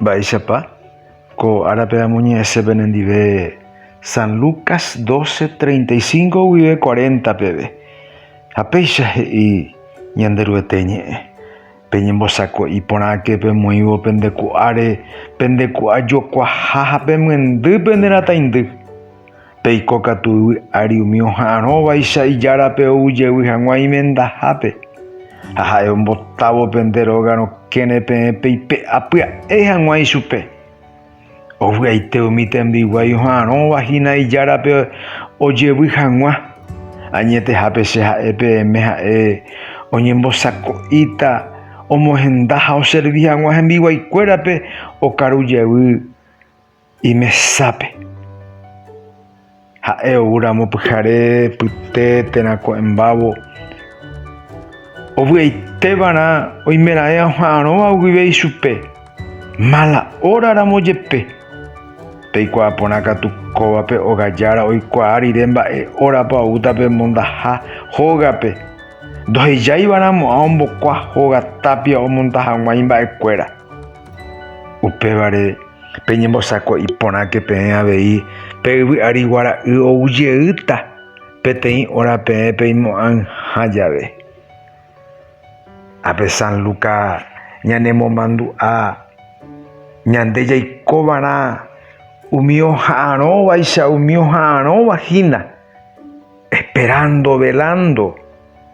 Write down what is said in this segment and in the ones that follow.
Mba'éichapa? Ko árape amoñe'ẽse penendive San Lucas 12, 35 guive 40 peve, ha péicha he'i Ñanderuete ñe'ẽ, Peñembosako'i porãke pemoĩvo pende ku'áre, pende ku'a jokuaha ha pemyendy pende rataindy. Peiko katu yvy ári umi oha'arõvaicha ijárape ou jevy hag̃ua imendahápe, ha ha'e ombotávo pende róga rokẽre peẽ peipe'a pya'e hag̃ua ichupe. Ovy'aite umi tembiguái oha'arõva hína ijárape ojevy hag̃ua, añetehápe che ha'e peẽme ha'e oñembosako'íta omohenda ha oservi hag̃ua hembiguaikuérape okaru jevy. Imesápe. Ha'e ou ramo pyhare, pyte, térã ko'ẽmbávo. Ovy'aite va'erã oimeraẽ aha'arõva guive ichupe, mala óra ramo jepe. Peikuaa porã katu kóvape ogajára oikuaa rire mba'e órapa oúta pe mondaha hógape. Ndohejái va'erã mo'ã ombokua hóga tápia omonda hag̃ua imba'ekuéra. Upévare, Peñembosako'i porãke peẽ avei pe yvy ári guara'y ou jeýta peteĩ óra peẽ peimo'ãyha jave. Ápe San Luka ñanemomandu'a ñande jaikovarã umi oha'arõvaicha umi oha'arõva hína, esperando, velando,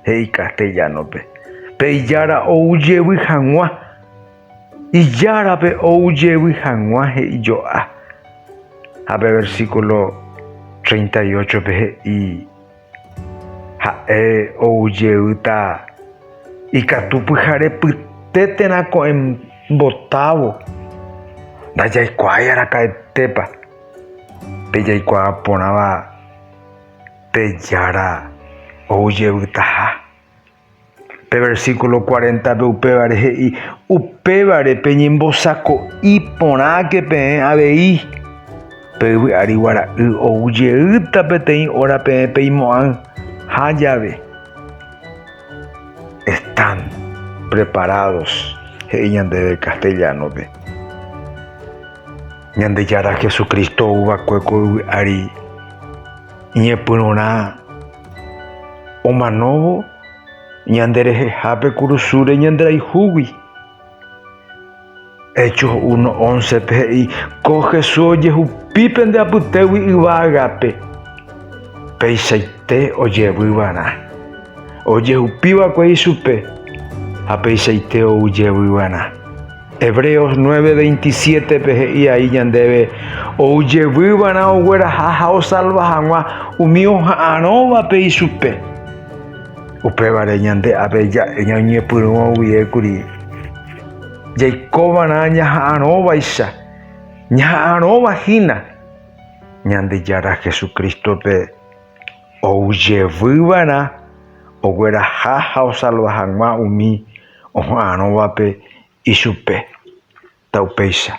he'i castellano-pe, pe Ijára ou jevy hag̃ua. Ijárape ou jevy hag̃ua he'i jo'a. Ha pe versíkulo treinta y óchope he'i, Ha'e ou jeýta ikatu pyhare pyte térã ko'ẽ mbotávo. Ndajaikuaái araka'etépa pe jaikuaa porãva pe Jára ou jevytaha. Pe versículo 40-pe upévare he'i, Upévare peñembosako'i porãke peẽ avei, pe yvy ári guara'y ou jeýta peteĩ óra peẽ peimo'ãi, ha jave están preparados, he'i ñandéve castellano-pe. Ñandejára Jesucristo ou va'ekue ko yvy ári iñepyrũrã. Omanóvo ñande rehehápe kurusúre ñanderayhúgui. Hechos 1, 11-pe he'i, Ko Jesús ojehupi pende apytégui yvágape, peichaite ojevy va'erã. Ojehupi va'ekue ichupe, ha peichaite ou jevy va'erã. Hebreos 9:27-pe he'i ai ñandéve ou jevyva'erã ogueraha ha osalva hag̃ua umi oha'arõvape ichupe. Upévare ñande ave ñañepyrũva guie kuri jaikova'erã ñaha'arõvaicha, ñaha'arõva hína Ñandejára Jesucristo-pe ou jevyva'erã ogueraha ha osalva hag̃ua umi oha'arõvape ichupe, ta upéicha.